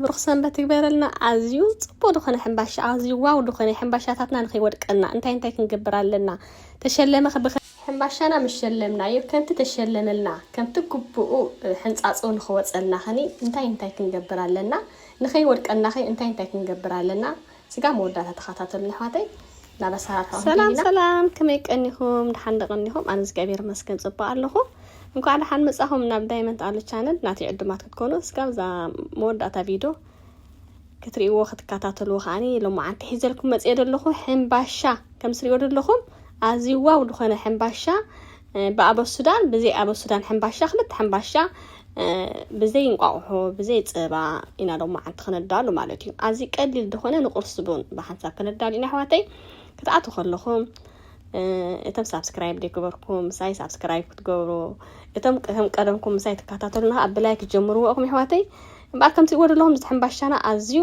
ብሩኽ ሰንበት ይግበረልና ኣዝዩ ጽቡቅ ድኾነ ሕምባሻ ኣዝዩ ዋው ድኾነ ሕምባሻታትና ንኸይወድቀና እንታይ እንታይ ክንገብር ኣለና ተሸለመ ክብኸ ሕምባሻና ምስ ሸለምናዮ ከምቲ ተሸለመልና ከምቲ ግቡኡ ሕንጻጹ ንኽወጸልና ኸኒ እንታይ እንታይ ክንገብር ኣለና ንኸይወድቀናኸ እንታይ እንታይ ክንገብር ኣለና ስጋብ መወዳእታ ተኸታተሉኒ ኣሕዋተይ ናብ ኣሰራርሓኦም ሰላም ከይድና ሰላም ከመይ ቀኒኹም ድሓን ዶ ቀኒኹም ኣነ እግዚኣብሔር መስገን ጽቡቅ ኣለኹ እንኳዕ ድሓን መጻኹም ናብ ዳይመንት ኣሉ ቻነል ናተይ ዕዱማት ክትኮኑ እስካብ እዛ መወዳእታ ቪድዮ ክትርእይዎ ክትከታተልዎ ከዓኒ ሎማዓንቲ ሒዘልኩም መጽየ ደለኹ ሕምባሻ ከም ስሪኦ ደለኹም ኣዝዩ ዋው ዝኾነ ሕምባሻ ብኣበሱዳን ብዘይ ኣበሱዳን ሕምባሻ ክልተ ሕምባሻ ብዘይ እንቋቑሖ ብዘይ ፀባ ኢና ዶ መዓንቲ ክነዳሉ ማለት እዩ ኣዚ ቀሊል ዝኾነ ንቁርሲ ቡን ብሓንሳብ ክነዳሉ ኢና ኣሕዋተይ ክትኣትዉ ከለኹም እቶም ሳብስክራይብ ዘይገበርኩም ምሳይ ሳብስክራይብ ክትገብሩ እቶም ከም ቀደምኩም ምሳይ ትከታተሉ ንኸ ብላይ ክትጀምርዎ እኹም ኣሕዋተይ እምበኣር ከምቲ ወደለኹም ዝሕምባሻና ኣዝዩ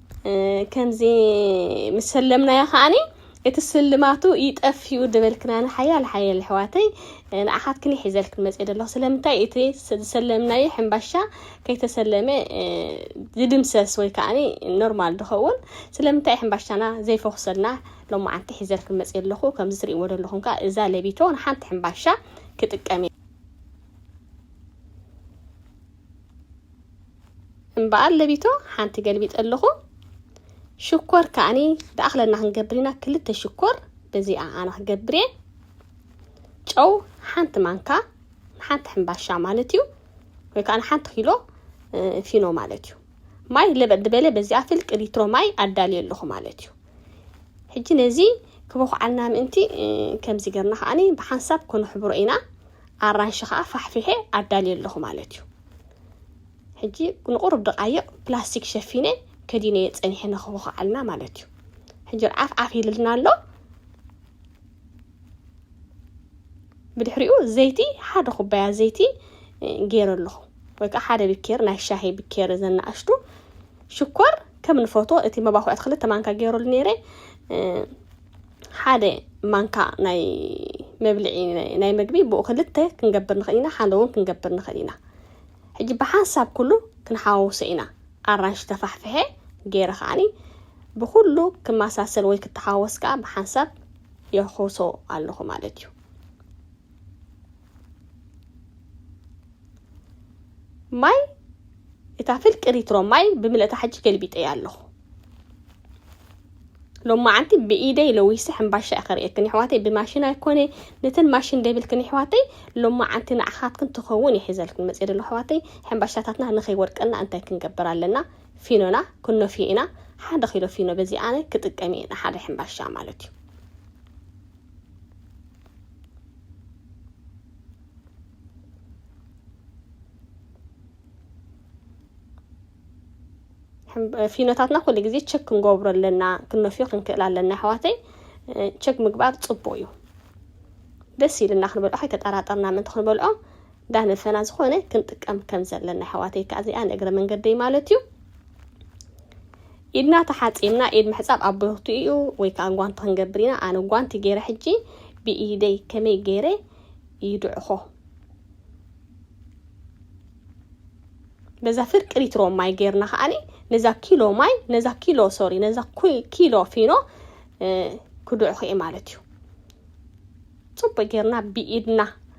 ከምዚ ምስ ሰለምናዮ ከዓኒ እቲ ስልማቱ ይጠፍኡ ድበልክናኒ ሓያል ሓያል ኣሕዋተይ ንኣኻትክን ይሒዘልክን መፅእ ደለኹ ስለምንታይ እቲ ዝሰለምናዮ ሕምባሻ ከይተሰለመ ዝድምሰስ ወይ ከዓኒ ኖርማል ድኸውን ስለምንታይ ሕምባሻና ዘይፈኹሰልና ሎማዓንቲ ሒዘልክን መፅእ ኣለኹ ከምዚ ትሪእዎ ደለኹም ከዓ እዛ ለቢቶ ንሓንቲ ሕምባሻ ክጥቀም እምበኣር ለቢቶ ሓንቲ ገልቢጠ ኣለኹ። ሽኮር ከኣኒ ደኣኽለና ክንገብር ኢና። ክልተ ሽኮር በዚኣ ኣነ ክገብር እየ። ጨው ሓንቲ ማንካ ንሓንቲ ሕምባሻ ማለት እዩ ወይ ከዓ ንሓንቲ ኪሎ ፊኖ ማለት እዩ። ማይ ለበጥ ዝበለ በዚኣ ፍልቂ ሊትሮ ማይ ኣዳልየ ኣለኹ ማለት እዩ ሕጂ ነዚ ክበኩዓልና ምእንቲ ከምዚ ገርና ከዓኒ ብሓንሳብ ኮነሕብሮ ኢና ኣራንሺ ከዓ ፋሕፊሐ ኣዳልየ ኣለኹ ማለት እዩ ሕጂ ንቑሩብ ደቓይቕ ፕላስቲክ ሸፊነ ከዲነየ ጸኒሐ ንክቦኸዓልና ማለት እዩ ሕጂ ዓፍ ዓፍ ይልልና ኣሎ ብድሕሪኡ ዘይቲ ሓደ ኩባያ ዘይቲ ገይረ ኣለኹ ወይ ከዓ ሓደ ብኬር ናይ ሻሂ ብኬር ዘናእሽቱ ሽኮር ከም ንፈቶ እቲ መባኩዕቲ ክልተ ማንካ ገይሩሉ ነይረ ሓደ ማንካ ናይ መብልዒ ናይ መግቢ ብኡ ክልተ ክንገብር ንኽእል ኢና፣ ሓደ እውን ክንገብር ንኽእል ኢና። ሕጂ ብሓንሳብ ኩሉ ክንሓዋውሶ ኢና። ኣራንሺ ተፋሕፊሐ ገይረ ከዓኒ ብኹሉ ክመሳሰል ወይ ክተሓወስ ከዓ ብሓንሳብ የሕውሶ ኣለኹ ማለት እዩ። ማይ እታ ፍልቂ ሪትሮ ማይ ብምልእታ ሕጂ ገልቢጠያ ኣለኹ ሎማዓንቲ ብኢደይ ለዊሰ ሕምባሻ እየ ከርእየክን ይሕዋተይ ብማሽን ኣይኮነ ነተን ማሽን ደብልክን ይሕዋተይ ሎማዓንቲ ንዓኻትክን ትኸውን ይሒዘልክን መፅእ ደሎ ሕዋተይ ሕምባሻታትና ንኸይወድቀና እንታይ ክንገብር ኣለና ፊኖና ክኖፍዮ ኢና ሓደ ኪሎ ፊኖ በዚ ኣነ ክጥቀም እየ ንሓደ ሕምባሻ ማለት እዩ ፊኖታትና ኩሉ ግዜ ቸክ ክንገብሮ ኣለና ክንነፍዮ ክንክእል ኣለና ኣሕዋተይ ቸክ ምግባር ፅቡቅ እዩ ደስ ኢልና ክንበልዖ ከይተጠራጠርና ምእንቲ ክንበልዖ እንዳነፈና ዝኾነ ክንጥቀም ከም ዘለና ኣሕዋተይ ከዓ እዚኣ ንእግረ መንገደይ ማለት እዩ ኢድና ተሓጺብና ኢድ ምሕጻብ ኣብ ብርክቱ ኢዩ ወይ ከኣ ጓንቲ ክንገብር ኢና ኣነ ጓንቲ ጌረ ሕጂ ብኢደይ ከመይ ጌረ ይድዕኮ በዛ ፍርቂ ሊትሮ ማይ ጌርና ከኣ ነዛ ኪሎ ማይ ነዛ ኪሎ ሶሪ ነዛ ኪሎ ፊኖ ክድዕኮ ኢየ ማለት ኢዩ ጽቡቅ ጌርና ብኢድና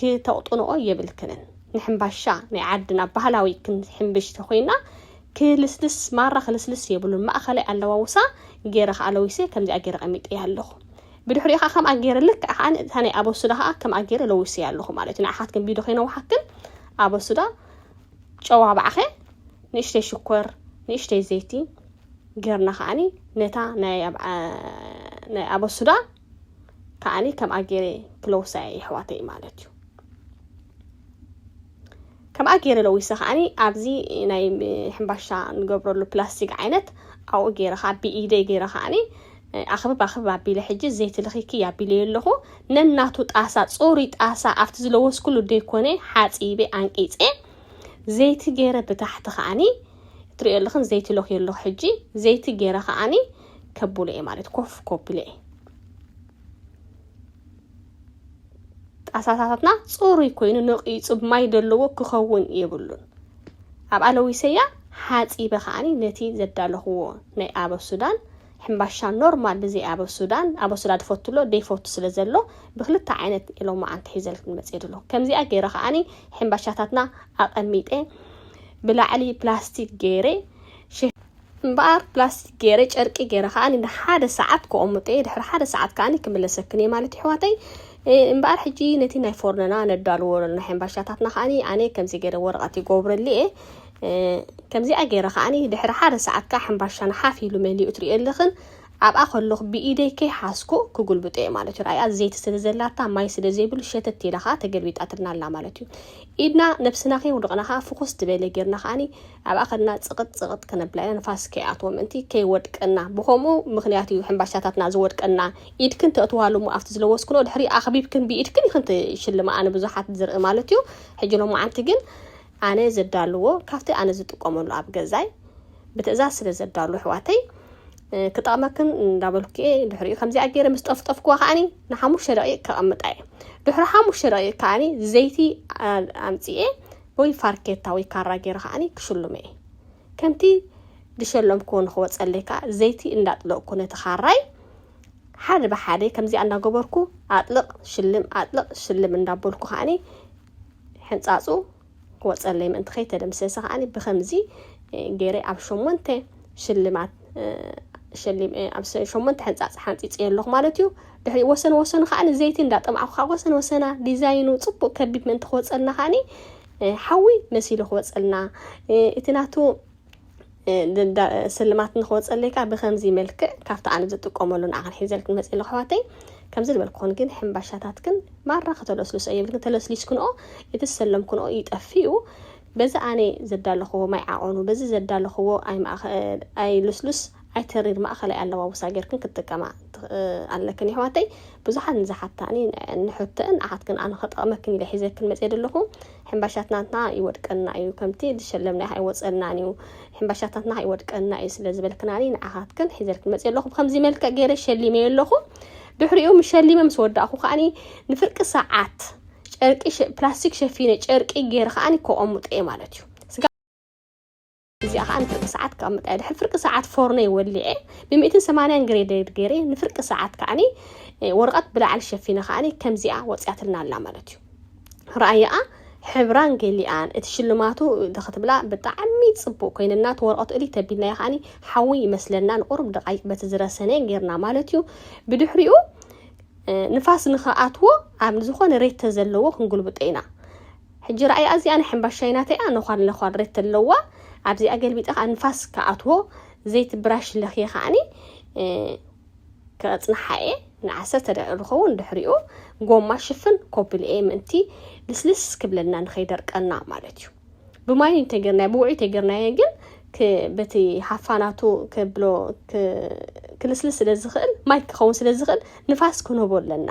ክተቕጥንኦ የብልክንን ንሕምባሻ ናይ ዓድና ባህላዊ ክንሕምብሽ ተኾይና ክልስልስ ማራ ክልስልስ የብሉን ማእኸላይ ኣለዋውሳ ገይረ ከዓ ለዊሰ ከምዚኣ ገይረ ቀሚጠያ ኣለኹ ብድሕሪኡ ከዓ ከምኣ ገይረ ልክዕ ከዓ እታ ናይ ኣበሱዳ ከዓ ከምኣ ገይረ ለዊሰያ ኣለኹ ማለት እዩ ንኣሓትክን ቢዶ ከይነውሓክን ኣበሱዳ ጨዋ ባዕኸ ንእሽተይ ሽኮር ንእሽተይ ዘይቲ ገርና ከዓኒ ነታ ናይ ኣበሱዳ ከዓኒ ከምኣ ገይረ ክለውሳ እየ የሕዋተይ ማለት እዩ ከምኣ ገይረ ለዊሰ ከዓኒ ኣብዚ ናይ ሕምባሻ ንገብረሉ ፕላስቲክ ዓይነት ኣብኡ ገይረ ከዓ ብኢደይ ገይረ ከዓኒ ኣኽብብ ኣኽብብ ኣቢለ ሕጂ ዘይቲ ልኺኪ ኣቢለዮ ኣለኹ ነናቱ ጣሳ ፅሩይ ጣሳ ኣብቲ ዝለወስኩሉ ደይኮነ ሓፂበ ኣንቂፀ ዘይቲ ገይረ ብታሕቲ ከዓኒ ትሪኦ ኣለኽን ዘይቲ ለኽዮ ኣለኹ ሕጂ ዘይቲ ገይረ ከዓኒ ከቡለ እየ ማለት ኮፍ ኮብለ እየ ጣሳታታትና ፅሩይ ኮይኑ ነቂፁ ማይ ዘለዎ ክኸውን የብሉን ኣብ ኣለዊሰያ ሓፂበ ከዓኒ ነቲ ዘዳለኽዎ ናይ ኣበብ ሱዳን ሕምባሻ ኖርማል ብዘይ ኣበብ ሱዳን ኣበብ ሱዳን ትፈትሎ ደይፈቱ ስለ ዘሎ ብክልተ ዓይነት ኢሎም መዓንቲ ሒዘልክን መፅእ ድሎ ከምዚኣ ገይረ ከዓኒ ሕምባሻታትና ኣቐሚጠ ብላዕሊ ፕላስቲክ ገይረ እምበኣር ፕላስቲክ ገይረ ጨርቂ ገይረ ከኣ ንሓደ ሰዓት ከቐምጦ እየ ድሕሪ ሓደ ሰዓት ከኣ ክምለሰክን እየ ማለት ይሕዋተይ እምበኣር ሕጂ ነቲ ናይ ፎርነና ነዳልዎ ኣለና ሕምባሻታትና ከኣ ኣነ ከምዚ ገይረ ወረቐት ይጎብረሉ እየ ከምዚኣ ገይረ ከኣ ድሕሪ ሓደ ሰዓት ከኣ ሕምባሻና ሓፍ ኢሉ መሊኡ ትሪኦ ኣለኽን ኣብኣ ከለኹ ብኢደይ ከይሓዝኩ ክጉልብጦ እየ ማለት እዩ። ርኣያ ዘይቲ ስለ ዘላታ ማይ ስለ ዘይብሉ ሸተት ኢላ ከኣ ተገልቢጣትልና ኣላ ማለት እዩ። ኢድና ነብስና ከየውድቕና ከኣ ፍኹስ ዝበለ ጌርና ከኣኒ ኣብኣ ከድና ጽቕጥ ጽቕጥ ክነብላ ኢና ንፋስ ከይኣትዎ ምእንቲ ከይወድቀና ብኸምኡ ምኽንያት እዩ ሕምባሻታትና ዝወድቀና። ኢድክን ተእትዋሉ እሞ ኣብቲ ዝለወስክንኦ ድሕሪ ኣኽቢብክን ብኢድክን ኢኽን ትሽልማኣ ንብዙሓት ዝርኢ ማለት እዩ። ሕጂ ሎማዓንቲ ግን ኣነ ዘዳልዎ ካብቲ ኣነ ዝጥቀመሉ ኣብ ገዛይ ብትእዛዝ ስለ ዘዳሉ ኣሕዋተይ ክጠቕመክን እንዳበልኩ እየ ድሕሪኡ ከምዚኣ ገይረ ምስ ጠፍጠፍኩዋ ከዓኒ ንሓሙሽተ ደቂቕ ከቐምጣ እየ ድሕሪ ሓሙሽተ ደቂቕ ከዓኒ ዘይቲ ኣምፅኤ ወይ ፋርኬታ ወይ ካራ ገይረ ከዓኒ ክሽሉመ እየ ከምቲ ዝሸለምክዎ ንክወፀለይ ከዓ ዘይቲ እንዳጥለቕኩ ነቲ ካራይ ሓደ ብሓደ ከምዚኣ እንዳገበርኩ ኣጥልቕ ሽልም ኣጥልቕ ሽልም እንዳበልኩ ከዓኒ ሕንጻጹ ክወጸለይ ምእንቲ ከይተደምሰሰ ከኣ ብከምዚ ገይረ ኣብ ሸሞንተ ሽልማት ኣብ ሸሞንተ ሕንጻጽ ሓንጺጽዮ ኣለኹ ማለት እዩ ድሕሪ ወሰን ወሰኑ ከኣ ዘይቲ እንዳጠማዕኩ ካብ ወሰን ወሰና ዲዛይኑ ጽቡቅ ከቢብ ምእንቲ ክወጸልና ከኣ ሓዊ መሲሉ ክወጸልና እቲ ናቱ ስልማት ንክወፀለይ ከዓ ብከምዚ መልክዕ ካብቲ ኣነ ዝጥቀመሉ ንዓክን ሒዘልክን መፅእ ኣለኩ ኣሕዋተይ ከምዚ ዝበልኩክን ግን ሕምባሻታትክን ማራ ከተለስልሶ የብልክን ተለስሊስክንኦ እቲ ዝሰለምክንኦ ይጠፍኡ በዚ ኣነ ዘዳለኽዎ ማይ ዓቐኑ በዚ ዘዳለኽዎ ኣይ ልስሉስ ኣይተሪር ማእኸላይ ኣለዋውሳ ጌርክን ክትጥቀማ ኣለክን የሕዋተይ ብዙሓት ንዝሓታኒ ንሕቶን ንዓኻት ግን ኣነ ከጠቕመክን ኢለ ሒዘክን መፅየ ዘለኹ ሕምባሻትናትና ይወድቀና እዩ ከምቲ ዝሸለምና ኣይወፀናን እዩ ሕምባሻታትና ይወድቀና እዩ ስለ ዝበልክናኒ ንዓኻትክን ሒዘልክን መፅየ ኣለኹ ብከምዚ መልክዕ ገይረ ሸሊመዮ ኣለኹ ድሕሪኡ ምስ ሸሊመ ምስ ወዳእኹ ከዓኒ ንፍርቂ ሰዓት ጨርቂ ፕላስቲክ ሸፊነ ጨርቂ ገይረ ከዓኒ ከቐምጦ እየ ማለት እዩ እዚኣ ከዓ ንፍርቂ ሰዓት ክቐምጣ ድሕሪ ፍርቂ ሰዓት ፎርነይ ወሊዐ ብሚእትን ሰማንያን ግሬደድ ገይረ ንፍርቂ ሰዓት ከዓኒ ወረቐት ብላዕሊ ሸፊነ ከዓኒ ከምዚኣ ወፅያትልና ኣላ ማለት እዩ ረኣየኣ ሕብራን ገሊኣን እቲ ሽልማቱ ክትብላ ብጣዕሚ ፅቡቅ ኮይነና እቲ ወረቀቱ እሊ ተቢልናዮ ከዓኒ ሓዊ ይመስለና ንቁርብ ደቃይቅ በቲ ዝረሰነ ጌርና ማለት እዩ ብድሕሪኡ ንፋስ ንክኣትዎ ኣብ ዝኾነ ሬት ተዘለዎ ክንጉልብጦ ኢና ሕጂ ረኣያ እዚኣ ናይ ሕምባሻይ ናተይ ኣነ ዃር ለዃር ሬት ኣለዋ ኣብዚኣ ገልቢጠ ከኣ ንፋስ ክኣትዎ ዘይቲ ብራሽ ለኽየ ከኣኒ ከጽንሓ እየ ንዓሰርተ ደቂቅ ዝኸውን ድሕሪኡ ጎማ ሽፍን ኮፕል እየ ምእንቲ ልስልስ ክብለልና ንኸይደርቀና ማለት እዩ ብማይ እንተገርናዮ ብውዑይ እንተገርናዮ ግን በቲ ሃፋናቱ ከብሎ ክልስልስ ስለ ዝኽእል ማይ ክኸውን ስለ ዝኽእል ንፋስ ክንህቦ ኣለና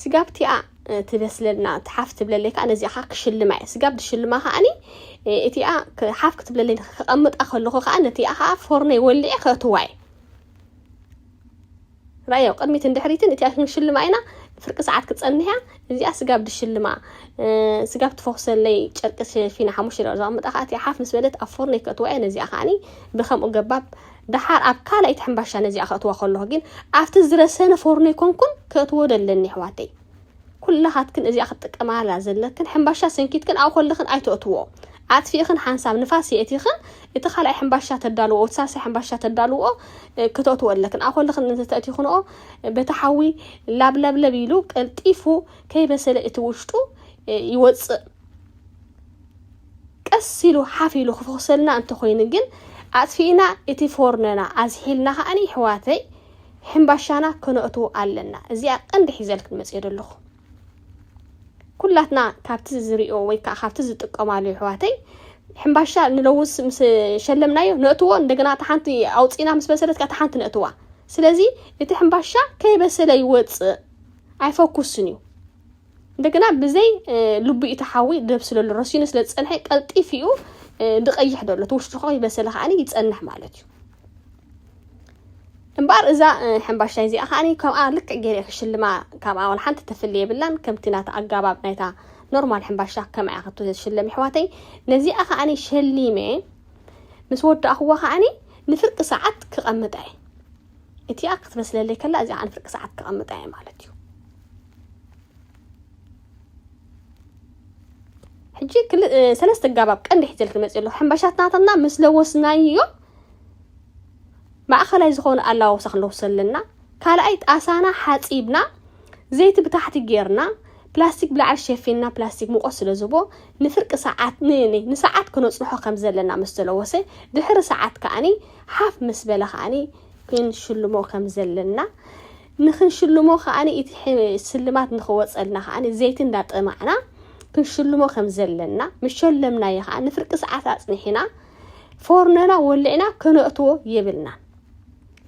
ስጋብ እቲኣ ትበስለልና እቲ ሓፍ ትብለለይ ከዓ ነዚኣ ከዓ ክሽልማ እየ ስጋብ ዝሽልማ ከዓኒ እቲኣ ሓፍ ክትብለለይ ከቐምጣ ከለኹ ከዓ ነቲኣ ከዓ ፎርነይ ወሊዐ ከእትዋ እየ ራዮ ቅድሚትን ድሕሪትን እቲኣ ክንሽልማ ኢና ፍርቂ ሰዓት ክፀንሕ እያ እዚኣ ስጋብ ድሽልማ ስጋብ ትፈኹሰለይ ጨርቂ ሸፊና ሓሙሽተ ደቂቃ ዘቐምጣ ከዓ እቲኣ ሓፍ ምስ በለት ኣብ ፎርነይ ከእትዋ እየ ነዚኣ ከዓኒ ብከምኡ ገባብ ደሓር ኣብ ካልኣይቲ ሕምባሻ ነዚኣ ከእትዋ ከለኩ ግን ኣብቲ ዝረሰነ ፎርኖ ኣይኮንኩን ከእትዎ ደለኒ ኣሕዋተይ ኩላካትክን እዚኣ ክትጥቀማላ ዘለክን ሕምባሻ ሰንኪትክን ኣብኡ ከለክን ኣይተእትዎ ኣጥፊእክን ሓንሳብ ንፋስ የእቲክን እቲ ካልኣይ ሕምባሻ ተዳልዎ እቲ ሳልሳይ ሕምባሻ ተዳልዎ ክተእትዎ ኣለክን ኣብኡ ከለክን እንተተእቲክንኦ በቲ ሓዊ ላብለብለብ ኢሉ ቀልጢፉ ከይበሰለ እቲ ውሽጡ ይወፅእ ቀስ ኢሉ ሓፍ ኢሉ ክፍኹሰልና እንተኾይኑ ግን ኣጥፊእና እቲ ፎርኖና ኣዝሒልና ከኣ ይሕዋተይ ሕምባሻና ከነእትዎ ኣለና እዚኣ ቀንዲ ሒዘልክን መጽየ ደለኹ ኩላትና ካብቲ ዝሪኦ ወይ ከኣ ካብቲ ዝጥቀማሉ ይሕዋተይ ሕምባሻ ንለውስ ምስ ሸለምናዮ ነእትዎ እንደገና እታ ሓንቲ ኣውፂና ምስ በሰለት ከኣ እታ ሓንቲ ነእትዋ ስለዚ እቲ ሕምባሻ ከይበሰለ ይወፅእ ኣይፈኩስን እዩ እንደገና ብዘይ ልቡ እቲ ሓዊ ደብስለሉ ረሲኑ ስለ ዝፀንሐ ቀልጢፍ እዩ ድቐይሕ ደሎ እቲ ውሽጡ ከ ይበሰለ ከዓኒ ይፀንሕ ማለት እዩ እምበኣር እዛ ሕምባሻይ እዚኣ ከዓ ከምኣ ልክዕ ገይረ ክሽልማ ካብኣ ዋላ ሓንቲ ተፍሊ የብላን ከምቲ ናታ ኣጋባብ ናይታ ኖርማል ሕምባሻ ከምኣ እያ ክቶ ዝሽለም ይሕዋተይ ነዚኣ ከዓ ሸሊመ ምስ ወዳእኽዋ ከዓ ንፍርቂ ሰዓት ክቐምጣ እየ እቲኣ ክትበስለለይ ከላ እዚኣ ንፍርቂ ሰዓት ክቐምጣ እየ ማለት እዩ ሕጂ ሰለስተ ጋባብ ቀንዲ ሕጀል ክመፅእ ኣለኹ ሕምባሻት ናታትና ምስ ለወስናዮ ማእኸላይ ዝኾነ ኣላወሳ ክንለውሶ ኣለና ካልኣይ ጣሳና ሓፂብና ዘይቲ ብታሕቲ ጌርና ፕላስቲክ ብላዕሊ ሸፊንና ፕላስቲክ ሙቆት ስለ ዝቦ ንፍርቂ ሰዓት ንሰዓት ክነፅንሖ ከም ዘለና ምስ ተለወሰ ድሕሪ ሰዓት ከዓኒ ሓፍ ምስ በለ ከዓኒ ክንሽልሞ ከም ዘለና ንኽንሽልሞ ከኣ እቲ ስልማት ንኽወጸልና ከኣ ዘይቲ እንዳጠማዕና ክንሽልሞ ከም ዘለና ምስ ሸለምናዮ ከኣ ንፍርቂ ሰዓት ኣጽኒሕና ፎርኖና ወሊዕና ከነእትዎ የብልናን።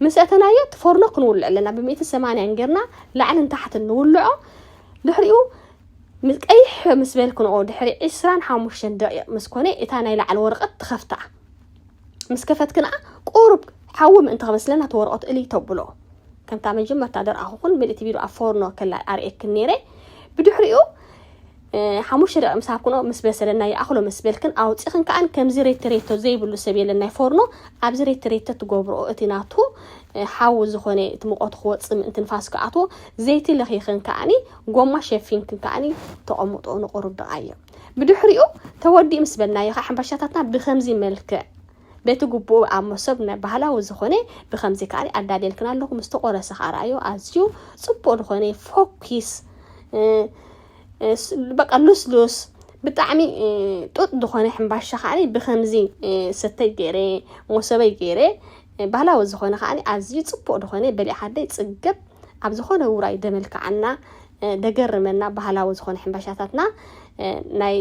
ምስ እተናዮ እቲ ፎርኖ ክንውልዕ ኣለና ብሚእቲ ሰማንያን ጌርና ላዕልን ታሕትን ንውልዖ ድሕሪኡ ቀይሕ ምስ በል ክንኦ ድሕሪ ዕስራን ሓሙሽተን ደቂቕ ምስ ኮነ እታ ናይ ላዕሊ ወረቐት ትኸፍታ። ምስ ከፈትክንኣ ቁሩብ ሓዊ ምእንቲ ክበስለና እቲ ወረቐት እልይ ተብሎ ከምታ መጀመርታ ደርኣኹኹን ምልእቲ ቢሉ ኣብ ፎርኖ ከላ ኣርእየክን ነይረ ብድሕሪኡ ሓሙሽተ ደቂ ምስ ሃብክኖ ምስ በሰለና ይኣኽሎ ምስ በልክን ኣውፂኽን ከዓን ከምዚ ሬቲ ሬቶ ዘይብሉ ሰብ የለን ናይ ፎርኖ ኣብዚ ሬቲ ሬቶ ትገብርኦ እቲ ናቱ ሓዊ ዝኾነ እቲ ሙቐቱ ክወፅእ ምእንቲ ንፋስ ክኣትዎ ዘይቲ ለኺኽን ከዓኒ ጎማ ሸፊንክን ከዓኒ ተቐምጦ ንቑሩብ ደቓይቕ ብድሕሪኡ ተወዲኡ ምስ በልናዮ ከዓ ሕንባሻታትና ብከምዚ መልክዕ በቲ ግቡኡ ኣብ መሶብ ናይ ባህላዊ ዝኾነ ብከምዚ ከዓ ኣዳልየልክና ኣለኹ ምስ ተቆረሰ ከዓ ረኣዮ ኣዝዩ ፅቡቅ ዝኾነ ፎኪስ በቃ ሉስሉስ ብጣዕሚ ጡጥ ዝኾነ ሕምባሻ ከዓ ብከምዚ ሰተይ ገይረ መሶበይ ገይረ ባህላዊ ዝኾነ ከዓ ኣዝዩ ፅቡቅ ዝኾነ በሊዕ ዓደይ ፅገብ ኣብ ዝኾነ ውራይ ደመልክዓና ደገርመና ባህላዊ ዝኾነ ሕምባሻታትና ናይ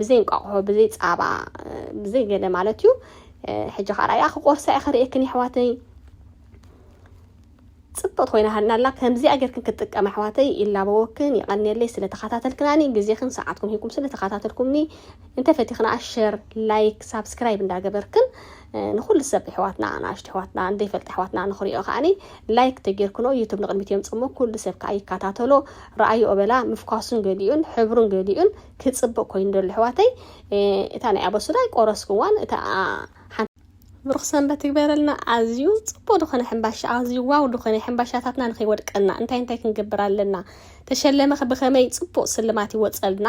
ብዘይ እንቋቑሖ ብዘይ ጻባ ብዘይ ገለ ማለት እዩ ሕጂ ከዓ ራእያ ክቆርሳ እየ ክርእየክን የሕዋተይ ፅብቕቲ ኮይና ሃልና ኣላ ከምዚኣ ጌርክን ክትጥቀም ኣሕዋተይ ይላበወክን ይቐንየለይ ስለ ተኸታተልክናኒ ግዜክን ሰዓትኩም ሂብኩም ስለ ተኸታተልኩምኒ እንተፈቲኽና ሸር ላይክ ሳብስክራይብ እንዳገበርክን ንኩሉ ሰብ ኣሕዋትና ንኣሽቱ ኣሕዋትና ንዘይፈልጥ ኣሕዋትና ንክሪኦ ከዓኒ ላይክ ተጌርክኖ ዩቱብ ንቅድሚት የምፅ እሞ ኩሉ ሰብ ከዓ ይከታተሎ ረኣዮ እበላ ምፍኳሱን ገሊኡን ሕብሩን ገሊኡን ክፅብቅ ኮይኑ ደሎ ኣሕዋተይ እታ ናይ ኣበሱዳ ኣይቆረስኩዋን እታ ብሩኽ ሰንበት ትግበረልና ኣዝዩ ፅቡቅ ዝኾነ ሕምባሻ ኣዝዩ ዋው ዝኾነ ሕምባሻታትና ንኸይወድቀና እንታይ እንታይ ክንገብር ኣለና ተሸለመ ብኸመይ ፅቡቅ ስልማት ይወፀልና